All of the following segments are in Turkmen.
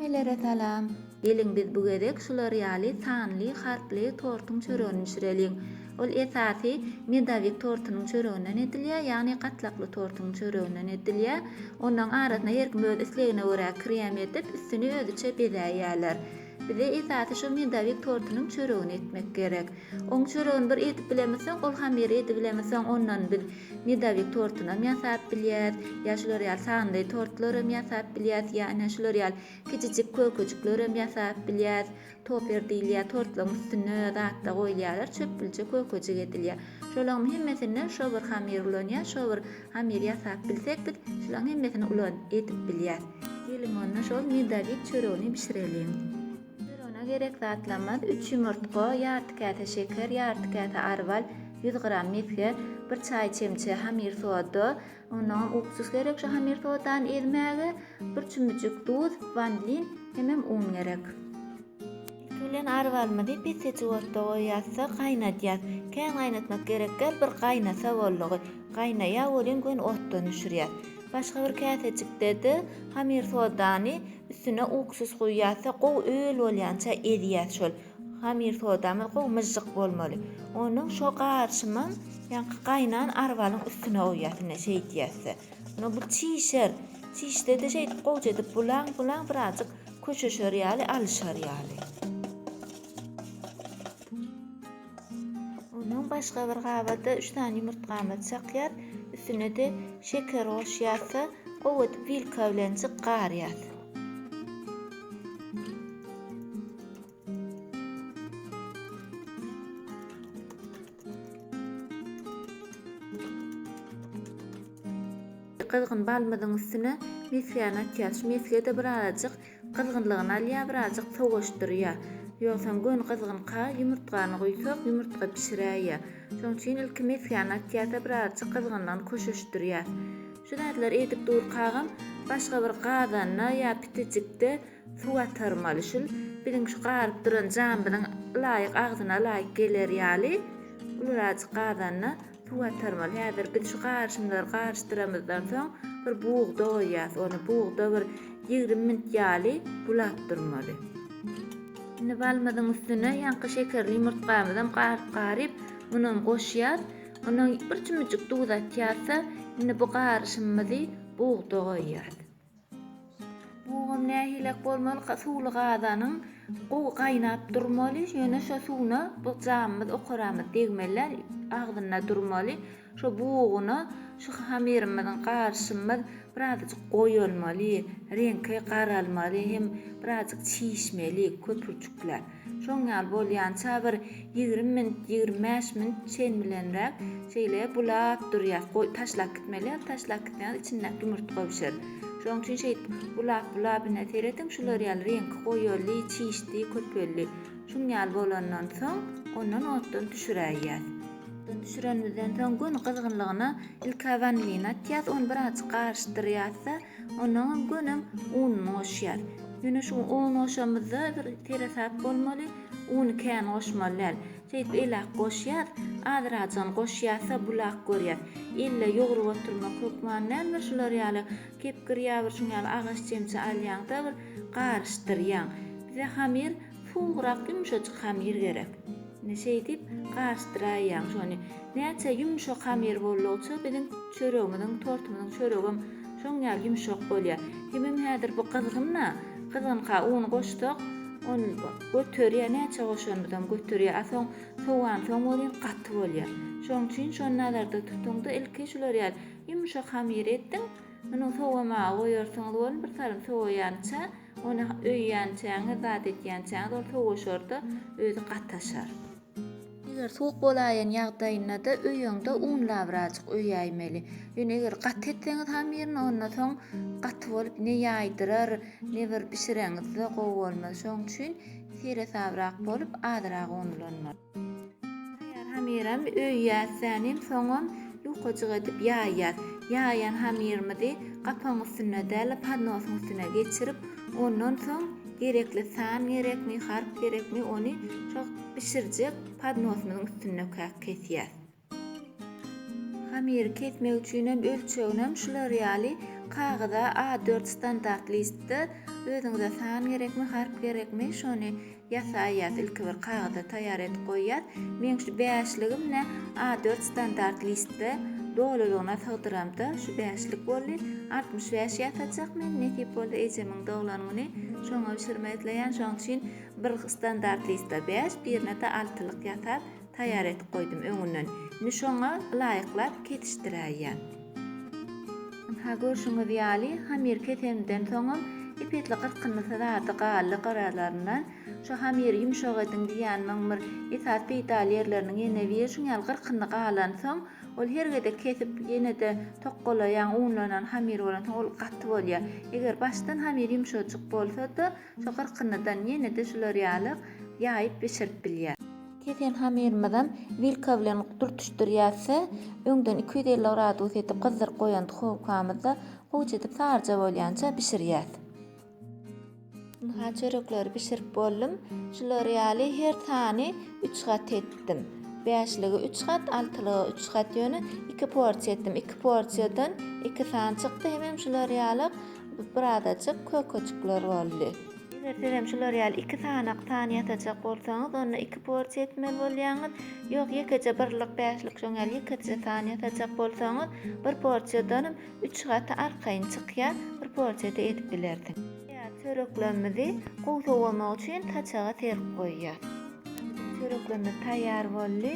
Hemmelere salam. Geliň biz bu gezek şular ýaly sanly harply tortuň çöregini bişireliň. Ol esasy medowik tortunyň çöreginden edilýär, ýagny gatlakly tortuň çöreginden edilýär. Onuň arasyna her kim öz islegine görä krem edip, üstüni özüçe bezäýýärler. Bize esasy şu medowik tortunyň çöregini etmek gerek. Oň çöregini bir edip bilemizsoň, ol hamyry edibilemizsoň ondan biz Medowik tortunam ýasap bilýäs, ýa şular ýaly sanly tortlaram ýasap bilýäs, ýa ine şular ýaly kiçijik kökejiklerem ýasap bilýäs. Toper diýilýär, tortlaryň üstüne zatlar goýulýarlar, çöpgülje kökejik edilýär. Şolaryň hemmesinden şo bir hamyr ulanýar, şo bir hamyr ýasap bilsek biz şularyň hemmesini ulan edip bilýäs. Geliň onda şol medowik çöregini bişireliň. Derona gerek zatlamaz, üç ýumurtga, ýarty käse şeker, ýarty käse arwal, ýüz gram mesge, bir çaý çemçe hamir soda, onnoňam uksus gerek şu hamir sodany ezmäge, bir çümmüjik duz, wanlin hemem un gerek. Ilki bilen arwalymyzy pesejik otda goýýas-da, gaýnadýas. Kän gaýnatmak gerek däl, bir gaýnasa boldugy. Gaýnaýa welin göni otdan düşürýäs. Başga bir käsejikde-de hamir sodany üstüne uksuz guýýas-da gowy öl bolýança ezýäs şol. Hamir sodamyz gowy myžžyk bolmaly. Onuň şo garşymam ýaňky gaýnan arbalyň üstüne guýýas ine şeýdýäs-de. Onda bu çişer. Çişde-de şeýdip gowja edip bulaň, bulaň birazjyk köşeşer ýaly, alyşar ýaly. Onuň başga bir gabada üç sany ýumurtgamyzy çakýas, üstüne-de şeker goşýas-da, gowy edip wilka bilen jykgarýas. Gyzgyn balymyzyň üstüne mesgäni atýas. Şu mesge-de birazajyk Gyzgynlygyny alýar birazjyk sowaşdyrýar. Ýogsam göni gyzgynka ýumurtgany guýsak ýumurtga bişiräýýär. Şoň üçin ilki mesgäni atýarda birazjyk gyzgynlygyny koşuşdyrýar. Şu zatlar edip durkagam başga bir gazanda ýa pitijikde suw atarmaly şul biziň şu garyp duran jamyzyň ylaýyk agzyna ylaýyk geler ýaly ulyrazjyk gazanda Suwatarmyz. Häzir biz şu garyşymlary garyşdyramyzdan soň bir bugda goýýas. Ony bugda bir ýigrimi minut ýaly bulap durmaly. Indi balymyzyň üstüne ýaňky şekerli ýumurtgamyzam garyp-garyp, munam goşýas. Ony bir çümüjik duz atýas-da, indi bu garyşymymyzy bugda goýýas. Bugam nähilek bolmalyka suwly gazanyň gowy gaýnap durmaly, ýöne şo suwuna bu jamymyz, okaramyz degmeli däl, agzynda durmaly. Şo buguny şu hamyrymyzyň garşymyz birazajyk goýulmaly, reňki garalmaly hem birazajyk çişmeli köpürjikler. Şoň ýaly bolýança bir ýigrimi minut, ýigrimi bäş minut çen bilenräk şeýle bulap durýas. Goý, taşlap gitmeli ýaly taşlap gitseňiz içindäki ýumurtga bişer. Şoň üçin şeýdip bulap bulap ine serediň şular ýaly reňki goýuldy, çişdi, köpeldi. Şuň ýaly bolandan soň ondan otdan düşüräýýäs. Otdan düşürenimizden soň göni gyzgynlygyna ilki wanilin atýas, ony birazajyk garyşdyrýas-da, Onnoňa gönem ununy goşýas. Ýöne şu un goşamyzda bir seresap bolmaly, uny kän goşmaly däl. Şeýdip elak goşýas, azrajygyny goşýas-da bulak görýäs. Elle ýugrup oturmak hökman näme şular ýaly kepgir ýa bir şuň ýaly agaç çemçe alýaň-da bir garyşdyrýaň. Bize hamyr Suwugrak ýumşajyk hamyr gerek. Indi şeýdip garyşdyraýýaň şony. Näçe ýumşak hamyr boldugyça biziň çöregimiziň, tortumyzyň çöregem şoň ýaly ýumşak bolýar. Hemem häzir bu gyzgyn-a, gyzgynka un goşsak, ol göterýär, näçe goşanymyzam göterýär. A soň sowansoň welin gaty bolýar. Şoň üçin şony nazarda tutuň-da, ilki şular ýaly ýumşak hamyr ediň. Munuň sowamaga goýarsyňyz welin, bir salym sowaýança, Ony öýýänçäňiz, zat etýänçäňiz ol sowaşar-da, özi gataşar. Eger suwuk bolaýan ýagdaýynda-da öýüňde un labrajyk öýäýmeli. Ýöne eger gaty etseňiz hamirini, onda soň gaty bolup ne ýaýdyrar, ne bir bişireňizde gowy bolmaz. Şonuň üçin seresabrak bolup, azyrak un ulanmaly. Taýýar hamyram öýýäs sänim soňam ýukajyk edip ýaýýas. Ýaýan hamyrymyzy gapagyň üstünde däl-de podnosyň üstüne geçirip, ondan soň gerekli san gerekmi, harp gerekmi ony şo bişirjek podnosymyzyň üstündekä kesýäs. Hamyry kesmek üçin hem ölçeginem şular ýaly kagyza A4 standart listde özüňize san gerekmi harp gerekmi şony ýasaýas ilki bir kagyza taýýar edip goýýas meň şu bäşligim ne A4 standart listde dolulygyna sygdyramda şu bäşlik boldy altmyş bäş ýasajak men nesip bolsa ejemiň doglan güni şoňa bişirmek isleýän şoň üçin bir standart listde bäş birine-de altylyk ýasap Taýýar edip goýdum öňünden. Indi şoňa laýyklap kesişdiräýýän. Ynha, görşüňiz ýaly, hamyr kesenimden soňam ep-esli gyrkyndysyz ady galdy gyralaryndan. Şu hamyry ýumşak ediň diýýänimiň bir esasy peýdaly ýerleriniň ýene biri şuň ýaly gyrkyndy galansoň, ol her gezek kesip ýene-de tokgalaýaň, unlanan hamyr bolansoň ol gaty bolýar. Eger başdan hamyr ýumşajyk bolsa-da, şu gyrkyndydan ýene-de şular ýaly ýaýyp bişirip bilýär. Kesen hamyrymyzam wilka bilen dürtüşdirýäs-de, öňden iki ýüz elli gradus edip gyzdyryp goýan duhowkamyzda guýç edip saryja bolýança bişirýäs. Ynha çörekleri bişirip boldum. Şular ýaly her sany üç gat etdim. Bäşligi üç gat, altylygy üç gat ýöne iki porsiýa etdim. Iki porsiýadan iki sany çykdy. Hemem şular ýaly birazajyk kökeçikler boldy. Eger siz hem şular ýaly iki sanak san ýasajak bolsaňyz, onda iki porsiýa etmeli bolýaňyz. Ýok, ýekeje birlik, bäşlik, şoň ýaly ýekeje san ýasajak bolsaňyz, bir porsiýadanam üç gaty arkaýyn çykýar, bir porsiýada edip bilersiň. Taýýar çöreklerimizi gowy sowamak üçin saçaga serip goýýas. Biziň çöreklerimiz taýýar boldy.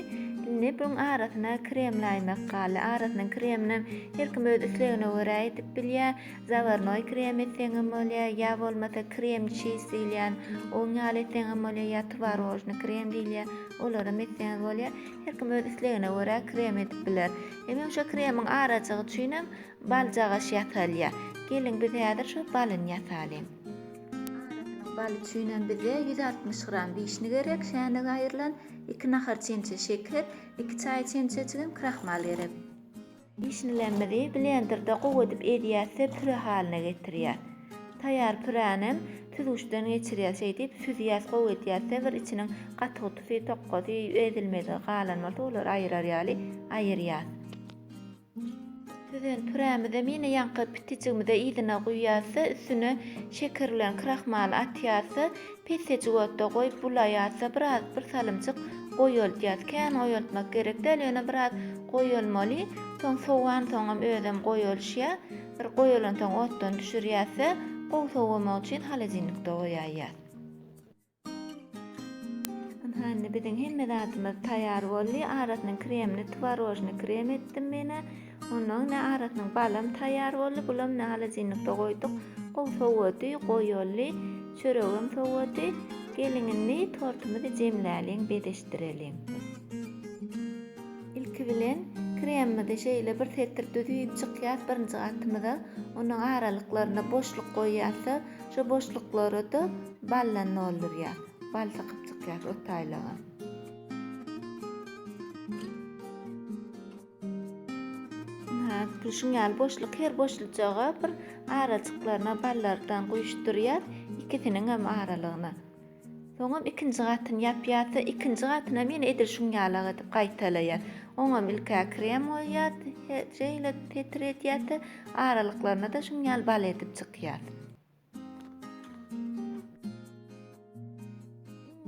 Indi buň arasyna krem laýmak galdy. Arasyna kreminem her kim öz islegine görä edip bilýär. Zawarnoý krem etseňem bolýar, ýa bolmasa krem çiz diýilýän, on ýaly etseňem bolýar, ýa twarožnyý krem diýilýär, olaram etseňiz bolýar. Her kim öz islegine görä krem edip biler. Emem şo kremiň arajygy üçinem bal jagaş ýasalýar. Geliň biz häzir şo balyny ýasalyň. Arasynyň baly üçinem bize ýüz altmyş gram wişni gerek, şänige aýrylan, iki nahar çemçe şeker, iki çaý çemçejigem krahmal gerek. Işinlemizi blenderde gowy edip ezýäs we püre halyna getirýäs. Taýýar püränem süzgüçden geçirýäs, şeýdip süzýäs, gowy edýäs we bir içiniň gatygutusy, tokgasy, ezilmedigi galan bolsa olary aýyrar ýaly aýyrýas. Süzen pürämizem ýene ýaňky pitijigimize yzyna guýýas we üstüne şeker bilen krahmaly atýas we Pissejik otda goýup bulaýarsa biraz bir salymjyk goýaltýas. Kän goýaltmak gerek däl ýöne biraz goýalmaly. Soň sowansoňam özem goýalşýa. Bir goýalansoň otdan düşürýäsde gowy sowamagy üçin holodilnikde goýaýýas. Ynha indi biziň hemme zadymyz taýar boldy. Arasynyň kremini twarožnyý krem etdim menä. Onnoň ne arasynyň balam taýýar boldy, bulam ne halajinlikde goýduk. Gowy sowady, goýaly, çöregem sowady. Geliň indi tortumyzy jemläliň, bezeşdireliň. Ilki bilen kremimizi şeýle bir setir düzüp çykýas birinji gatymyza. Onuň aralyklaryna boşluk goýýas-da, şo boşluklara-da baldan doldurýas. Bal sykyp çykýas ortaýlaga. Gülşiň ýaly boşluk her boşlujaga bir arajyklaryna ballardan guýuşdyrýas, ikisiniňem aralygyna. Soňam ikinji gatyny ýapýas, ikinji gatynam ýene edil şuň ýalak edip gaýtalaýas. Oňam ilk-ä krem goýýas, şeýle petredýäs, aralyklaryna-da şuň ýaly bal edip çykýas.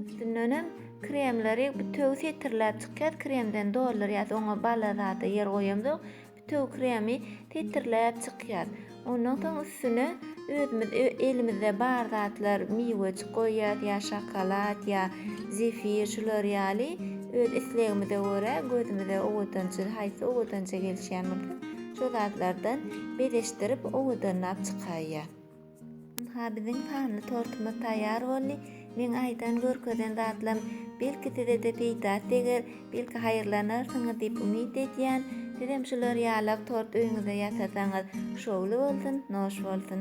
Üstündenem kremleri bütewi setirläp çykýas, kremden doldurýas, oňa bala zada ýer goýamzok, bütewi kremi setirläp çykýas. Ondan soň üstüne özümiz elimizde bar zatlar miwejik goýýas ýa şokolad ýa zefir şular ýaly öz islegimize görä gözümize owadanja haýsy owadanja gelişýän bolsa Şo zatlardan bezeşdirip owadanlap çykaýýar. Ynha biziň taňly tortumyz taýýar boldy. Meň aýdan, görkezen zatlarym belki size-de peýdasy deger, belki haýyrlanarsyňyz diýip umyt edýän. Sizem şular ýalak tort öýüňizde ýasasaňyz şowly bolsun, noş bolsun.